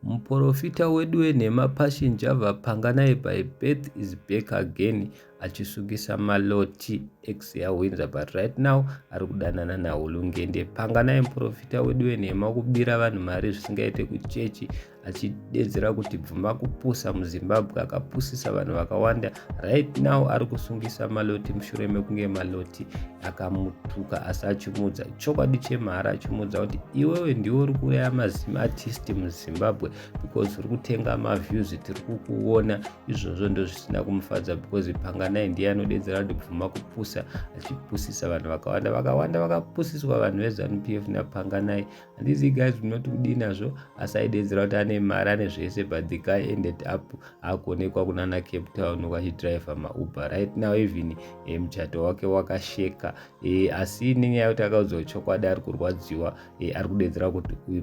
Muporofita wedu wenhema Passion Java Panganayi by birth is back again achisungisa maloti ex yahwinza but right now ari kudanana nahulungende. Panganayi muporofita wedu wenhema kubira vanhu mari zvisingaite kuchechi achidedzera kuti bvuma kupusa muzimbabwe akapusisa vanhu vakawanda right now ari kusungisa maloti mushure mekunge maloti akamutuka asi achimuudza chokwadi chemhara achimuudza kuti iwewe ndiwe uri kuuraya mazim artist muzimbabwe because uri kutenga maviews tiri kukuona izvozvo ndo zvisina kumufadza because panganai ndiye anodedzera kuti bvuma kupusa achipusisa vanhu vakawanda vakawanda vakapusiswa vanhu vezanup f napanganai handizi guys munoti kudii nazvo asi aidedzera kuti ane mari ane zvese but the guy ended up akuonekwa kunana cape town vachidriver mauber right now even e, muchato wake wakasheka e, asi nenyaya yekuti akaudzwa chokwadi ari kurwadziwa e, ari kudedzera kuti uyu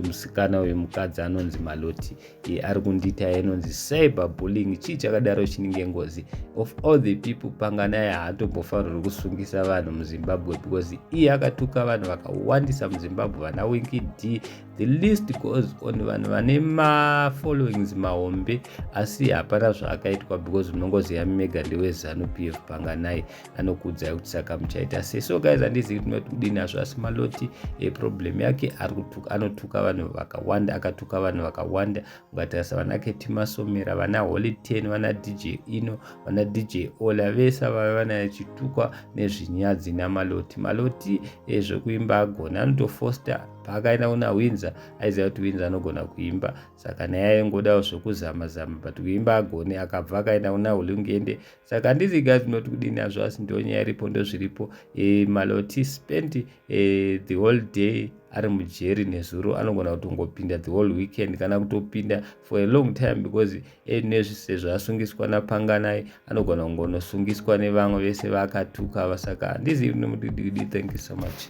musikana uyu mukadzi anonzi maloti e, ari kundiita inonzi cyber bullying chii chakadaro chinenge ngozi of all the people panganaye haatombofanirwi kusungisa vanhu muzimbabwe because iye akatuka vanhu vakawandisa muzimbabwe vana winki d the list goes on vanhu vane mafollowings mahombe asi hapana zvaakaitwa because munongoziva mega ndewezanu p f panganai anokuudzai kuti saka muchaita sei so guys handizivi kuti noti kudini azvo asi maloti eproblem yake anotuka vanhu vakawanda akatuka vanhu vakawanda ukatarisa vana ketimasomera vana holy ten vana dj ino vana dj ola vese vave vanachitukwa nezvinyadzi namaloti maloti ezvekuimba agona anotofoster paakaenda kuna winza aiziva kuti winza anogona kuimba saka naye aingodawo zvekuzama zama but kuimba agone akabva akaenda kuna hulungende saka handizi guys munoti kudini azvo asi ndo nyaya iripo ndozviripo e, eh, maloti spent e, eh, the whole day ari mujeri nezuro anogona kutongopinda the whole weekend kana kutopinda for a long time because enezvi eh, sezvo asungiswa napanganai anogona kungonosungiswa nevamwe vese vaakatuka vasaka handizi nemudididi thank you so much